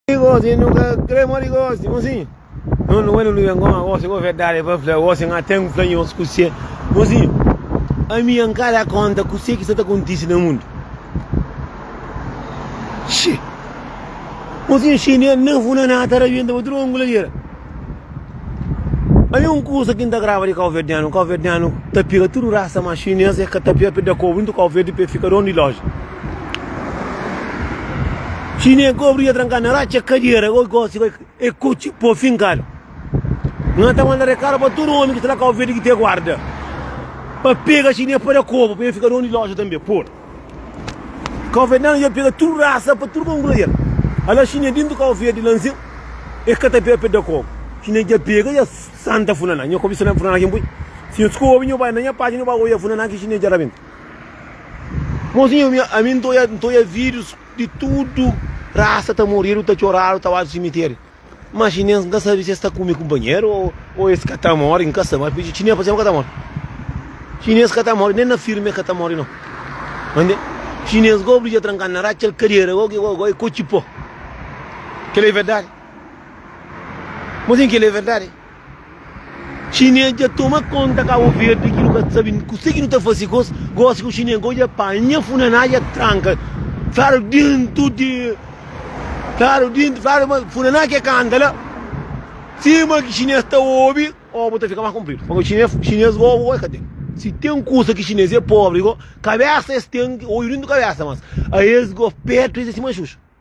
Gosi nu ka kre mori gosi Gosi No no wena nu ben goma gosi Go verdade pa fla gosi Nga ten fla nhos kusé Gosi Ami N ka da konta kusé ki sta ta kontisi na mundu Xii Gosi Xii Nen nen funa na ta rabienta pa tudu ongula djera Ami un kusa ki N ta graba di kauverdianu Kauverdianu ta pega tudu rasa ma xinês e ka ta pia pe da kobu intu kauverdi pe fika don di loja. Si ne kobri dja trankadu na ratxa, kadiera goi gosi goi e kotxe po finkadu. Nan ta manda rekadu pa tudu omi ki sta na Kau Verdi ki te guarda pa pega si ne pada kobu pa e fika donu di loja tanbe. Por Kau Verdianu dja pega tudu rasa pa tudu kangura djel. Ala si ne dintu Kau Verdi la nsin e ka ta pega peda kobu. Si ne dja pega dja santa funa na nha kobi santa funa na ki n pui. Si nhos kobi nho bai na nha patxi nho bai goi dja funa na ki si ne dja rabenta. Mozinhu, ami, ami n ta oia, n ta oia vídios di tudu rasa ta moridu, ta txoradu, ta badu simitéri. Má xinês, n ka sabe si es ta kume kunpanheru ô, ô es ka ta móre, n ka sabe. Má xinês ta fla, es ka ta móre. Xinês ka ta móre, nen na filmi es ka ta móre, nau. Mande, xinês gobi dja trankadu na ráti, txeu kadera, gó, gó, gó, e kotxi pó. Kel-li é verdadi. Mozinhu, kel-li é verdadi. Xinês dja toma konta Kabu Verdi ki nu ka sabe kuzê ki nu ta faze gos, gosi ku xinês ka odja pa nha funaná dja tranka fadu dentu di fadu dentu fadu ma funaná ke kanta la sima ki xinês ta obi obu ta fika más kunpridu pamodi xinês xinês obu gó el ka ten si ten kusa ki xinês é pobri gó kabésa es ten odju dentu kabésa mas a es gó petu es é sima xuxu.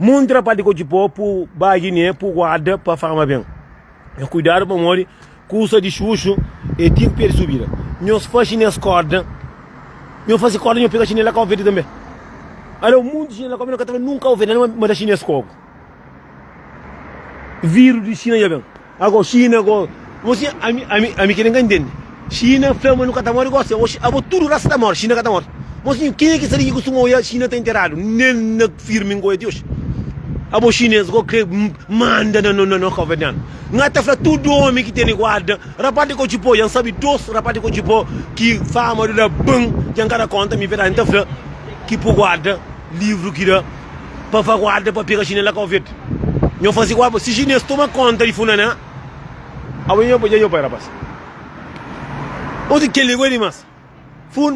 Muntra pa diko dji po pu ba giné pu guarda pa fama ben E kuidadu pamodi kusa di xuxu e tin pé di subida Nhos faxi nes korda Nho fasi korda nho pega xinela kau verdi tanbe Aleu munti xinela kau mi no ka ta fla nunka kau verdi ma ta xinês kogu Viru di xina dja ben. Ago China go Gosi ami ami ami ki ka ntende China fla ma nu ka ta mori gosi ago China abo tudo rasa ta mori China ka ta mori Gosi ken ki sali ki kustuma oia China ta enteradu nel na firmi nkoia ti oxi abo Chinês go kre manda na no no kovernianu nga ta fla tudo omi ki tene guarda rapaz di kochipo ya nsabi dos rapaz di kochipo ki fama do la ban ya nka da konta mi verdadi nta fla ki pu guarda livro ki da Pa fa guarda pa pega chinela kau verde Nho faze guarda si chinês toma konta di funaná Awe nho dja nho pai rapaz Osi keli goi dimas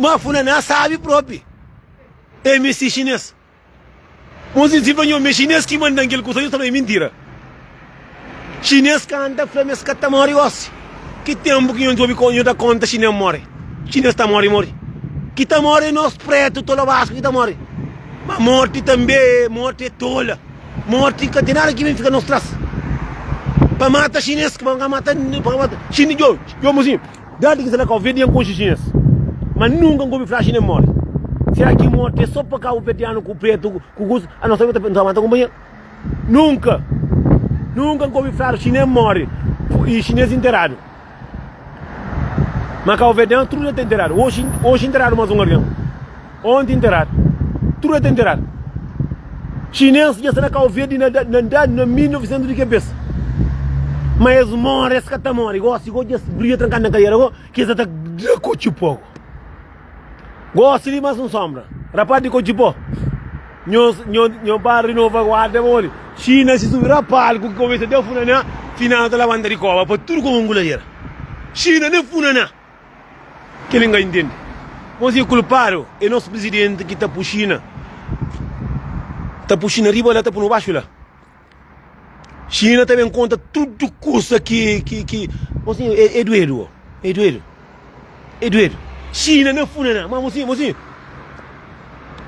Ma funaná sabi propi E misti chinês Mosi si fla nho ma e chinês ki mandan kel kusa nho sa fla e mintira. Xinês ka anda fla ma es ka ta móre gósi. Ki ténpu ki nho djobe nho da kónta xinês móre? Xinês ta móre, móre. Ki ta móre é nos prétu tolobasku ki ta móre. Má mórti tanbê é mórti é tola. Mórti ka ten nada ki ben fika nos tras. Pa mata xinês pa ka mata pa ka mata xinês djo djo mozinhu djadi ki salakauvedian konxe xinês ma nunka N ka obi fla xinês móre. Sera ki mórti é sô pa kauvedianu ku prétu ku kusa? Anôs tanbê nu ta mata kunpanheru. Nunka, nunka N ka obi fladu xinês móre y xinês interadu. Má Cabo Verdean tudu el ta interadu. Oxi, oxi interadu más un algen. Onti interadu. Tudu el ta interadu. Xinês dja sta na Cabo Verde na da, na da, na 1900 di ke bes. Má es móre, es ka ta móre. Gósi, gósi dja es bria trankadu na kadiera. Gósi, ki es ta ta da ku txi poku. Gosi di mas un sombra. Rapaz di ko jipó. Nho, nho, nho pa renova guarda pa olho. China si subi rapaz ku cabeça de funaná. Final ta levanta di cova pa tudo como anguladeira. China nem funaná. Que ele entende. Mas é culpado é nosso presidente que tá por China. Tá por China riba lá, tá por baixo lá. Xina ta ben konta tudu kusa ki ki ki mosinhu é, é duedu ó, é duedu. É duedu. Xina na funaná, má mosinhu, mosinhu.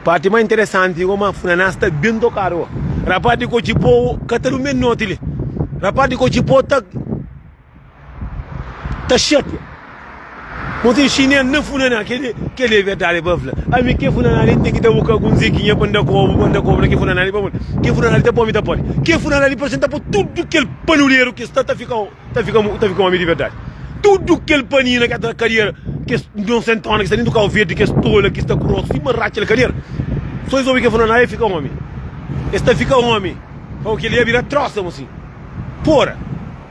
Parti mais interessante é ma funaná está bem tocado ó. Rapaz de Cochipó ka ta dume noti li. Rapaz de Cochipó tá Ta xapia. Bo ta inxinel na funaná. Kel li é verdadi pa fla. Ami kel funaná li N ten ki ta buka algun zekinha pa N da kobu, pa N da kobu na kel funaná li. Pamodi kel funaná li ta pô-mi ta pode. Kel funaná li parse N ta pô tudu kel panuleru ki es ta ta fika ta fika ta fika omi di verdadi. Tudu kel panina ki sta na kadiera, kes nonsentóna ki sta dentu kau verdi, kes tola ki sta grosu sima ratxa di kadiera. Sô es obi kel funaná li, es fika omi. Es ta fika omi. Ô, kel li é bira trósa, mo sin. Fora!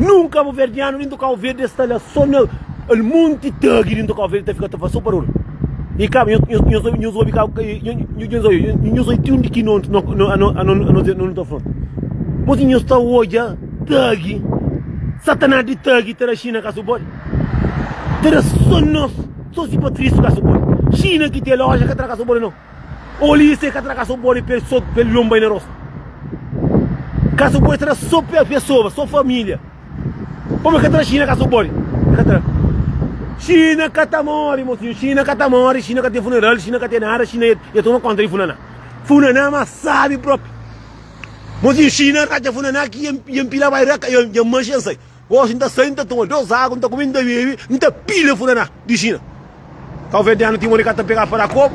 Nun kabo verdiano nin do kabo verde es ta la so na el monte tagi nin do kabo verde ta fika ta faz so barul e kabo nhos obi kabo nhos obi ti un di ki non non ta fla mas nhos ta odja tagi satanaz di tagi ta da china kaso bode ta da so nos so si patrisu kaso bode china ki te loja ka tra kaso bode non Olísia ka tra ka so bode pa el so pa el yonba-i na rosta. Ka so bode tra so pa pesoba, so família. Pamodi ka tra Xina ka so bode? El ka tra. Xina ka ta móre, mosinhu. Xina ka ta móre, Xina ka ten funeral, Xina ka ten nada, Xina e e toma kónta di Funaná. Funaná más sábi própi. Mosinhu, Xina ratxa Funaná ki e e npila bai ra ka, e e manxa e nsai. Oxi, N ta sai, N ta toma dôs agu, N ta kume, N ta bebe, N ta pila Funaná di Xina. Ka oveja ten anu ti un ora i ka ta pegá pa da kobu.